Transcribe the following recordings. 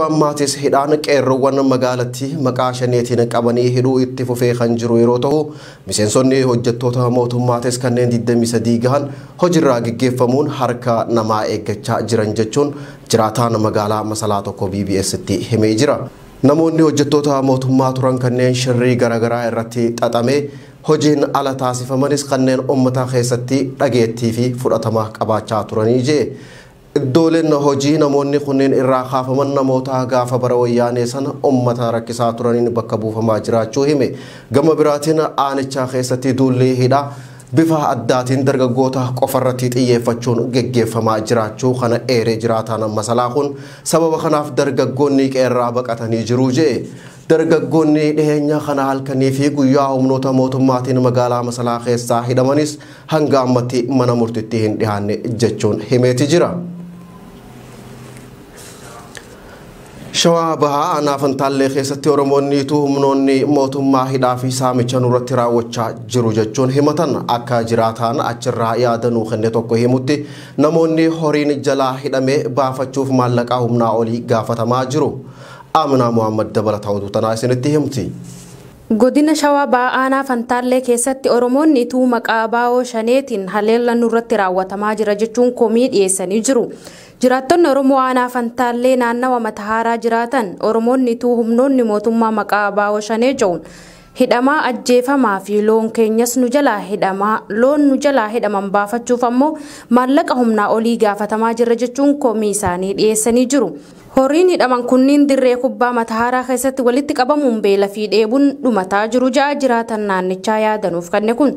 ammaatis hidhaan qeerroowwan magaalatti maqaa shaneetiin qabanii hidhuu itti fufee kan jiru yeroo ta'u miseensonni hojjettoota mootummaatis kanneen 23 gahan hojirraa geggeeffamuun harka namaa eeggachaa jiran jechuun jiraataan magaalaa masalaa tokko BBStti himee jira. Namoonni hojjettoota mootummaa turan kanneen shirrii garaagaraa irratti xaxamee hojiin ala taasifamanis kanneen uummata keessatti dhageettii fi fudhatama qabaachaa turanii jee Iddooleen hojii namoonni kunneen irraa kaafaman namoota gaafa bara wayyaanee sana ummata rakkisaa turaniin bakka buufamaa jiraachuu hime. Gama biraatiin aanicha keessatti duulli hidhaa bifa addaatiin dargaggoota qofarratti xiyyeeffachuun geggeeffamaa jiraachuu kana eeree jiraataan Masalaa kun sababa kanaaf dargaggoonni qe'erraa baqatanii jiru je'e. Dargaggoonni dhiheenya kana halkaniifi guyyaa humnoota mootummaatiin magaalaa Masalaa keessaa hidhamanis hanga ammatti mana murtitti hin dhihaanne jechuun himeeti jira. Shawaa bahaa aanaa Fantaallee keessatti Oromoonniitu humnoonni mootummaa hidhaa fi saamicha nurratti raawwachaa jiru jechuun himatan akka jiraataan achirraa yaada nuu kenne tokko himutti namoonni horiin jalaa hidhame baafachuuf maallaqaa humnaa olii gaafatamaa jiru. Aminaa Mohaammed dabalataa oduu tanaa isinitti himti. Godina Shawaa Bahaa Aanaa Fantaallee keessatti Oromoonni ituu maqaa abo Shaneetiin haleellan nurratti raawwatamaa jira jechuun komii dhiyeessanii jiru. Jiraattonni Oromoo Aanaa Fantaallee naannawa Matahaaraa jiraatan Oromoonni ituu humnoonni mootummaa maqaa abo Shanee ja'uun hidhamaa, ajjeefamaa fi loon keenyas nu jalaa hidhamaa, loon nu jalaa hidhaman baafachuuf ammoo maallaqa humnaa olii gaafatamaa jirra jechuun komii isaanii dhiyeessanii jiru. Horiin hidhaman kunniin dirree kubbaa Matahaaraa keessatti walitti qabamuun beela fi dheebuun dhumataa jiru ja'a jiraatan naannichaa yaada nuuf kanne kun.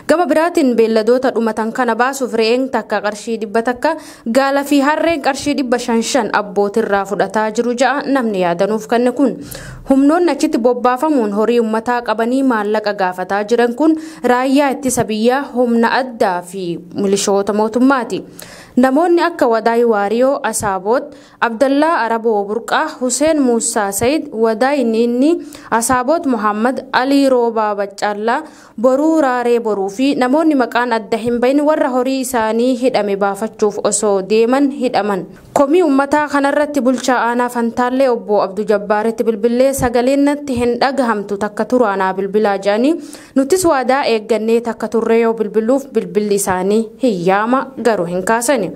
Gama biraatiin beelladoota dhumatan kana baasuuf re'een takka qarshii dhibba takka gaala fi harreen qarshii dhibba shan shan abbootirraa fudhataa jiru ja'a namni yaada nuuf kanne kun. Humnoonni achitti bobbaafamuun horii ummataa qabanii maallaqa gaafataa jiran kun raayyaa ittisa biyyaa humna addaa fi milishoota mootummaati. Namoonni akka Wadaay Waariyoo, Asaaboot, Abdallaa Araboo Burqaa, Huseen Muussaa Sayid, Wadaay Niinnii, Asaaboot Mohaammad, Alii Roobaa Baccaallaa, Boruu Raaree Boruu fi namoonni maqaan adda hin bahin warra horii isaanii hidhame baafachuuf osoo deeman hidhaman. Komii ummataa kanarratti bulchaa aanaa Fantaallee obbo Abdujabbaaritti bilbillee sagaleen natti hin dhagahamtu takka turaa naa bilbilaa jedhanii Nuttis waadaa eeggannee takka turree yoo bilbiluuf bilbilli isaanii hin yaama garuu hin kaasani.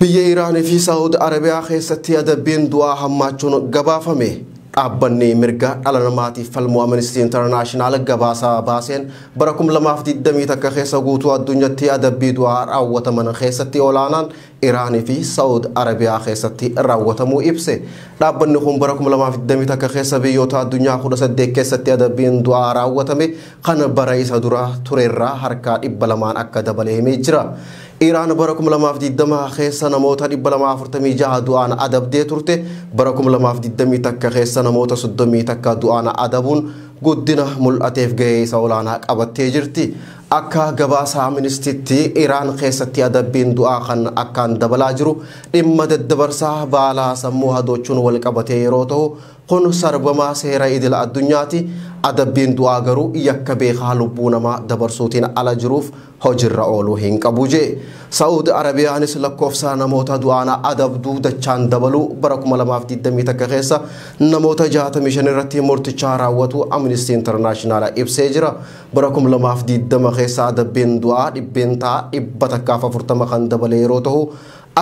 Biyya Iraan fi Saa'ud Arabiyaa keessatti adabbiin du'aa hammaachuun gabaafame. Dhaabbanni mirga dhala namaatiif falmu Amnesty International gabaasa baaseen bara 2021 keessa guutuu addunyatti adabbii du'aa raawwataman keessatti olaanaan Iraan fi Sa'ud Arabiyaa keessatti raawwatamuu ibse. Dhaabbanni kun bara 2020 takka keessa biyyoota addunyaa 18 keessatti adabbiin du'aa raawwatame kan bara isa dura turerraa harkaa 200 akka dabale himee jira. Iraan bara 2020 keessa namoota 246 du'aan adabdee turte, bara 2020 takka keessa namoota 30 takka du'aan adabuun guddina mul'ateef gahee isa olaanaa qabattee jirti. Akka gabaasa Aministiitti Iraan keessatti adabbiin du'aa kan akkaan dabalaa jiru dhimma daddabarsa baalaa sammuu hadoochuun wal qabatee yeroo ta'u, kun sarbama seera idil addunyaati, adabbiin du'aa garuu yakka beekaa lubbuu namaa dabarsuutiin ala jiruuf hojirra ooluu hin qabu jedhe. Sa'ud Arabiyaanis lakkoofsa namoota du'aan adabdu dachaan dabaluu bara 2021 keessa namoota 65 irratti murtichaa raawwatu Aministi Internaashinaala ibsee jira. Bara 2020 keessa adabbiin du'aa dhibbeentaa 140 kan dabale yeroo tahu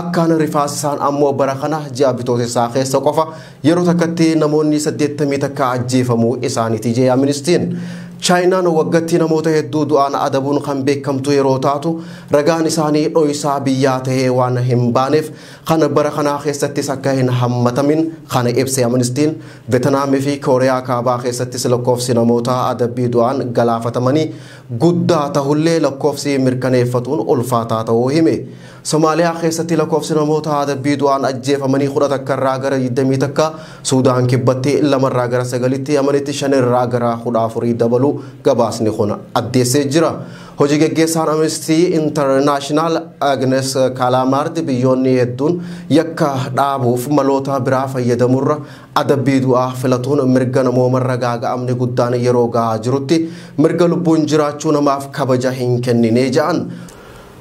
akkaan rifaasisaan ammoo bara kana ji'a bitootessaa keessa qofa yeroo takkatti namoonni 80 takka ajjeefamuu isaaniiti jee Aministiin. Chaayinaan waggatti namoota hedduu du'aan adabuun kan beekamtu yeroo taatu ragaan isaanii dhoysaa biyyaa tahee waan hin baaneef Kan bara kanaa keessattis akka hin hammatamin kana ibse Aministiin, Vetanaamii fi Kooriyaa Kaabaa keessattis lakkoofsi namoota adabbii du'aan galaafatamanii guddaa tahullee lakkoofsi mirkaneeffatuun ulfaataa tahuu hime. Somaaliyaa keessatti lakkoofsi namoota adabbii du'aan ajjeefamanii 11 irraa gara 21, Suudaan Kibbatti 2 irraa gara 9tti, Yamanitti 5 irraa gara 14 dabaluu gabaasni kun addeessee jira. Hojii geggeessaan Amnestii Intarnaashinaal Agnes Kaalaamaardi biyyoonni hedduun yakka dhaabuuf maloota biraa fayyadamurra adabbii du'aa filatuun mirga namoomarra gaaga'amni guddaan yeroo gahaa jirutti mirga lubbuun jiraachuu namaaf kabaja hin kennine ja'an.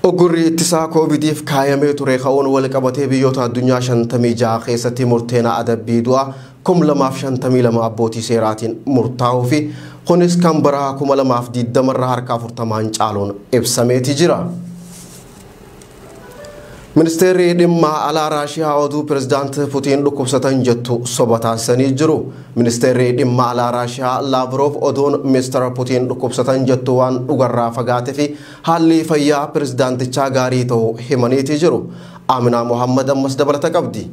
Uggurri ittisaa koovidiif kaayamee ture ka'uun walqabatee biyyoota addunyaa 56 keessatti murteena adabbii du'aa 2,052 abbootii seeraatiin murtaa'uu fi kunis kan bara 2020 irra harka 40n caaluun ibsameeti jira. Ministeerri dhimma alaa Raashiyaa oduu pirezidaant Putiin dhukkubsatan jettu soba taasisanii jiru. Ministeerri dhimma alaa Raashiyaa Laavrov oduun Mister Putiin dhukkubsatan jettu waan dhugarraa fagaate fi haalli fayyaa pirezidaantichaa gaarii ta'u himaniiti jiru. Aminaa Mohaammed ammas dabalata qabdi.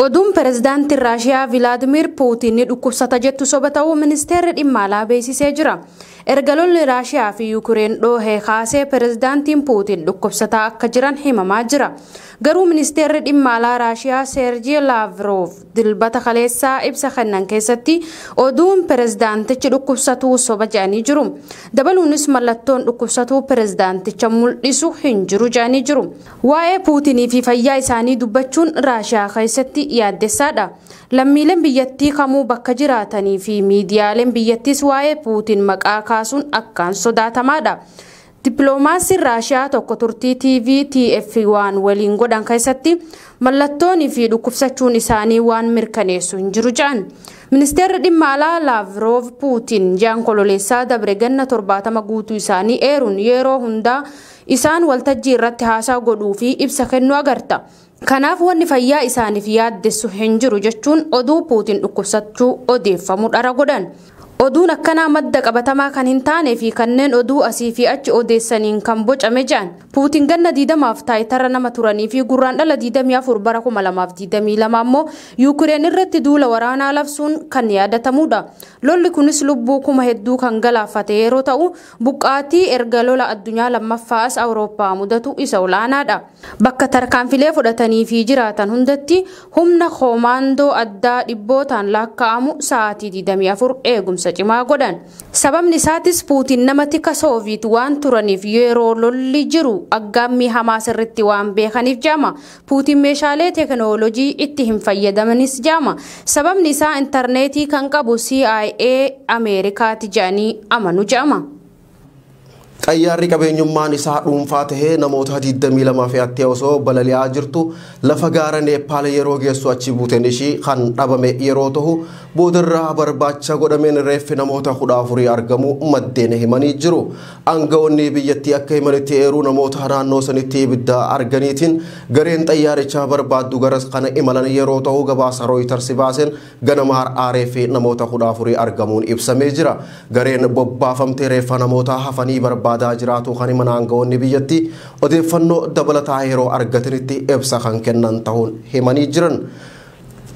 Oduun Pirezidaantiin Raashiyaa Vilaadmiir Puutiin ni dhukkubsata jettu soba ta'uu Ministeerri Dhimma Alaa beeksisee jira. Erga lolli Raashiyaa fi Yukireen dhoohe kaasee Pirezidaantiin Puutiin dhukkubsataa akka jiran himamaa jira. Garuu Ministeerri Dhimma Alaa Raashiyaa Seerjii Laavroov Dilbata kaleessaa ibsa kennan keessatti oduun pirezidaantichi dhukkubsatuu soba jedhanii jiru. Dabaluunis mallattoon dhukkubsatuu pirezidaanticha mul'isu hin jiru jedhanii jiru. Waa'ee Puutinii fi fayyaa isaanii dubbachuun Raashiyaa keessatti yaaddessaadha. Lammiileen biyyattii kamuu bakka jiraatanii fi miidiyaaleen biyyattiis waa'ee Puutin maqaa kaasuun akkaan sodaatamaadha. Dippiloomaasiin Raashiyaa tokko turtii TV TF1 waliin godhan keessatti mallattoonii fi dhukkubsachuun isaanii waan mirkaneessu hin jiru jedhan. Ministeerri Dhimma Alaa Laavroov Puutin ji'a Onkololeessaa dabre ganna 70 guutuu isaanii eeruun yeroo hundaa Isaan waltajjii irratti haasaa godhuu fi ibsa kennu agarta. Kanaaf wanni fayyaa isaaniif yaaddessu hin jiru jechuun oduu Puutin dhukkubsachuu odeeffamu dhara godhan. Oduun akkanaa madda qabatamaa kan hin taanee fi kanneen oduu asii fi achi odeessaniin kan bocame jedhan. Puutin ganna 20f taayitarra nama turanii fi Gurraandhala 24 bara 2022 ammoo Yuukireen irratti duula waraanaa labsuun kan yaadatamuudha. Lolli kunis lubbuu kuma hedduu kan galaafate yeroo ta'u, Buqqaatii erga lola addunyaa lammaffaa as Awurooppaa mudatu isa ol'aanaadha. Bakka tarkaanfilee fudhatanii fi jiraatan hundatti humna koomaandoo addaa dhibbootaan laakka'amu sa'aatii 24 eegumsa cimaa godhan. Sababni isaatis Puutiin nama tika Sooviit waan turaniif yeroo lolli jiru aggaammii hamaa sirriitti waan beekaniif jedhama. Puutin meeshaalee teeknooloojii itti hin fayyadamanis jedhama. Sababni isaa intarneetii kan qabu CIA Ameerikaati jedhanii amanu jedhama. Xayyaarri qabeenyummaan isaa dhuunfaa tahee namoota 22 fe'attee osoo balali'aa jirtu lafa gaara Neeppaal yeroo geessu achi buuteen ishii kan dhabame yeroo tahu boodarraa barbaacha godhameen reeffi namoota 14 argamu maddeen himanii jiru. Aanga'oonni biyyattii akka himanitti eeruu namoota naannoo sanitti ibidda arganiitiin gareen xayyaarichaa barbaaddu garas kana imalan yeroo ta'u gabaasa Rooyitarsi baaseen ganama har'aa reeffi namoota kudha afurii argamuun ibsamee jira. Gareen bobbaafamte reeffa namoota hafanii barbaadaa jiraatuu kan himan aanga'oonni biyyattii odeeffannoo dabalataa yeroo argatinitti ibsa kan kennan tahuun himanii jiran.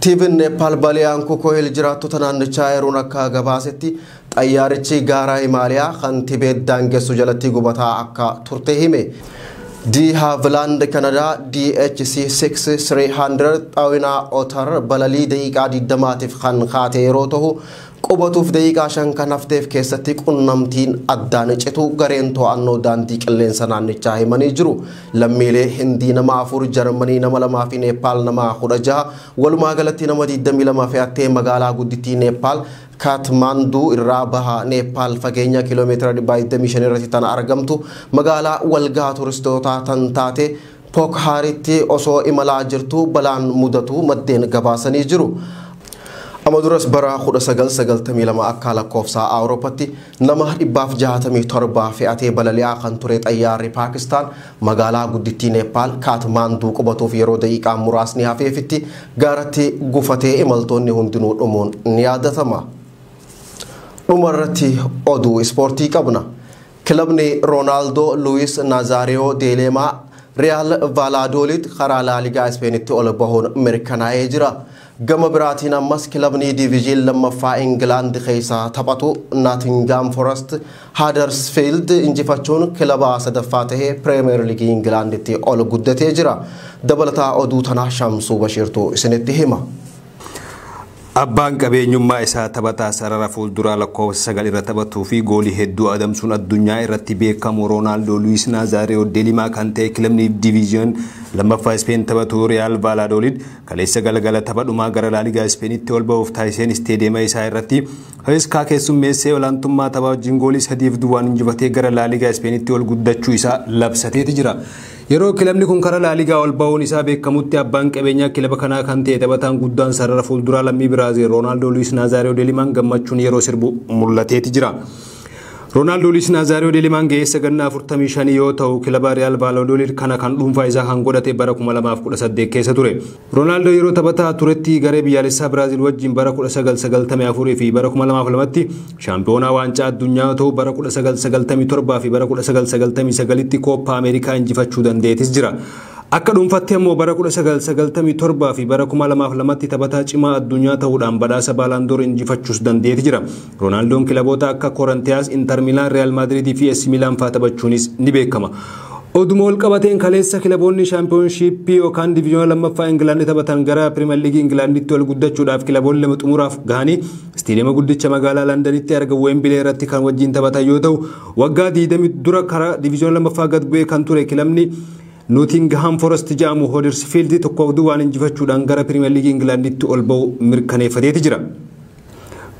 TVn Neeppaal Baliyaan Kukohil jiraattota naannichaa eeruun akka gabaasetti xayyaarichi gaara Himaaliyaa kan Tibeet daangessu jalatti gubataa akka turte hime. De Havilland Kanadaa DHC-6-300 xaawinaa Otar balalii daqiiqaa 20tiif kan kaate yeroo tahu Qubatuuf daqiiqaa shan kan hafteef keessatti qunnamtiin addaa ni citu gareen to'annoo daandii qilleensa naannichaa himanii jiru. Lammiilee Hindii nama afur, Jarmanii nama lamaa fi Neeppaal nama kudha jaha walumaa galatti nama 22 fe'attee magaalaa guddittii Neeppaal Kaatmaanduu irraa baha Neeppaal fageenya kiiloomeetira 125 irratti tan argamtu magaalaa walgaha turistootaa tan taate Pookhaaritti osoo imalaa jirtuu balaan mudatuu maddeen gabaasanii jiru. Amma duras bara 1992 akka lakkoofsa Awuroopatti nama 667 fe'atee balali'aa kan ture xayyaarri Paakistaan magaalaa guddittii Neeppaal Kaatmaanduu qubatuuf yeroo daqiiqaan muraasni hafeefitti gaaratti gufatee imaltoonni hundinuu dhumuun ni yaadatama. Dhumarratti oduu ispoortii qabna. Kilabni Roonaaldoo Luwiis Nazaariyoo Deeleemaa Riyaal Vaalaadooliid karaa Laaligaa Ispeenitti ol bahuun mirkanaa'ee jira. Gama biraatiin ammas kilabni diiviziin lammaffaa Ingilaand keessa taphatu Naatingaam Forest Hadarsfiild injifachuun kilaba sadaffaa tahe Pireemiyeer Ligii Ingilaanditti ol guddatee jira. Dabalataa oduu tanaa Shamsuu Bashiirtu isinitti hima. Abbaan qabeenyummaa isaa taphataa sarara fuulduraa lakkoofsa sagal irra taphatuu fi goolii hedduu adamsuun addunyaa irratti beekamu Roonaaldoo Luwiis Naazaariyoo Delimaa kan ta'e kilabni diviiziyoon lammaffaa Ispeen taphatu Riyaal Vaalaadoliid kaleessa galgala tapha dhumaa gara Laaligaa Ispeenitti ol ba'uuf taasiseen isteediyeema isaa irratti Heskaa keessummeessee olaantummaa taphaa wajjin goolii sadiif duwwaan injifatee gara Laaligaa Ispeenitti ol guddachuu isaa labsateeti jira. Yeroo kilabni kun kara Laaligaa ol ba'uun isaa beekamutti abbaan qabeenyaa kilaba kanaa kan ta'e taphataan guddaan sarara fuulduraa lammii Biraazil Roonaaldoo Luis Naazaariyoo Delimaan gammachuun yeroo sirbu mul'ateeti jira. Roonaaldoo Luis Naazaariyoo Delimaan ga'eessa ganna 45 yoo ta'u kilaba Riyaal Vaalodooliid kana kan dhuunfaa isaa kan godhate bara 2018 keessa ture. Ronaaldoo yeroo taphataa turetti garee biyyaalessaa Biraazil wajjin bara 1994 fi bara 2002tti shaampiyoonaa waancaa addunyaa yoo ta'u bara 1997 fi bara 1999tti Kooppaa Ameerikaa injifachuu danda'eetis jira. Akka dhuunfatti ammoo bara 1997 fi bara 2002tti taphataa cimaa addunyaa ta'uudhaan badhaasa Baalaandoor injifachuus danda'eeti jira. Roonaaldoon kilaboota akka Korantiyaas, Intar Milaan, Riyaal Maadiriidii fi Essi Milaan faa taphachuunis ni beekama. Oduma wal qabateen kaleessa kilaboonni shaampiyoonshiippii yookaan diviiziyoona lammaffaa Ingilaandi taphatan gara Piriimer Liigii Ingilaanditti wal guddachuudhaaf kilaboonni lama xumuraaf gahanii istiidiyeema guddicha magaalaa Landanitti argamu Wembilee irratti kan wajjin taphatan yoo ta'u waggaa 20 dura karaa diviiziyoona lammaffaa gad bu'ee kan ture kilabni Nootingahaam Forest jedhamu Hodirsfiildi tokko duwwaan injifachuudhaan gara Piriimer Liigii Ingilaanditti ol ba'u mirkaneeffateeti jira.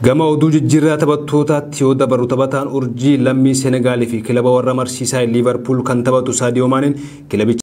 Gama oduu jijjiirraa taphattootaatti yoo dabarru taphataan urjii lammii Senegaal fi kilaba warra marsiisaa Liivarpuul kan taphatu Saadiyoo Maaneen kilabicha